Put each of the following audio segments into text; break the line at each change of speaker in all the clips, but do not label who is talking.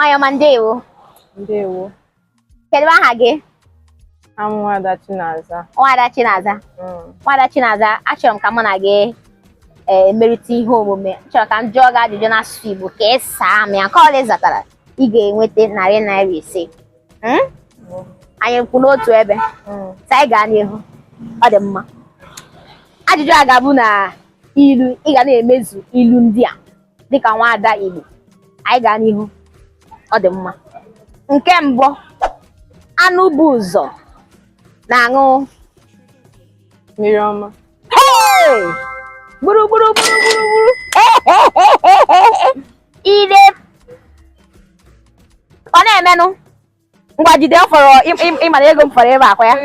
Nwanyị ọma ndewo.
Ndewo.
Kedu aha gị? Abụ m
Nwada Chinaza. Nwada
Chinaza. Mm. Nwada Chinaza, achọrọ m ka mụ na gị eh, merịta ihe omume. M chọrọ ka m jụọ gị ajụjụ n'asụsụ Igbo ka ị saa m ya. Nke ọbụla ị zatara, ị ga-enweta narị naira ise. Hmm? Mm. Anyị kwụ n'otu ebe. Mm. Sị anyị gaa n'ihu. Ọ dị mma. Ajụjụ a ga-abụ na ilu ị ga na-emezu ilu ndị a dịka nwaada Igbo anyị gaa n'ihu ọ dị mma nke mbụ anụ bu ụzọ na-aṅụ mmiri
ọma gburu
gburu gburu gburu gburu ire ọ na-emenụ ngwa jide ọ fọrọ ị mara ego m fọrọ ebe a kwa ya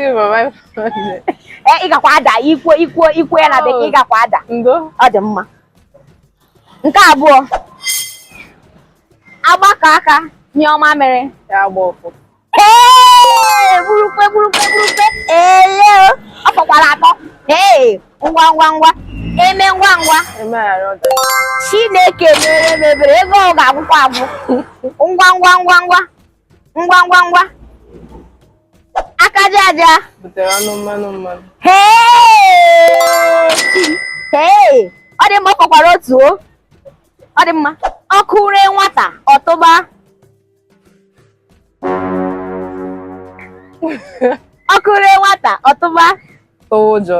e, ị gakwa ada i kwuo i kwuo i kwuo ya na oh. bekee ị gakwa ada ọ dị mma nke abụọ agbakọọ aka nyụọ mamịrị ee
burukwe
burukwe burukwe ele ọ fọkwara atọ ee ngwa ngwa ngwa emee ngwa ngwa
chineke
mere m ebere ego ọ ga-agwụkwa agwụ ngwa ngwa ngwa ngwa ngwa ngwa ngwa aka aja aja butere ọnụ
mmanụ mmanụ
hee ọ dị mma ọ fọkwara otu o ọ dị mma ọkụ ree nwata ọ tụba ọkụ ree nwata ọ tụba ụjọ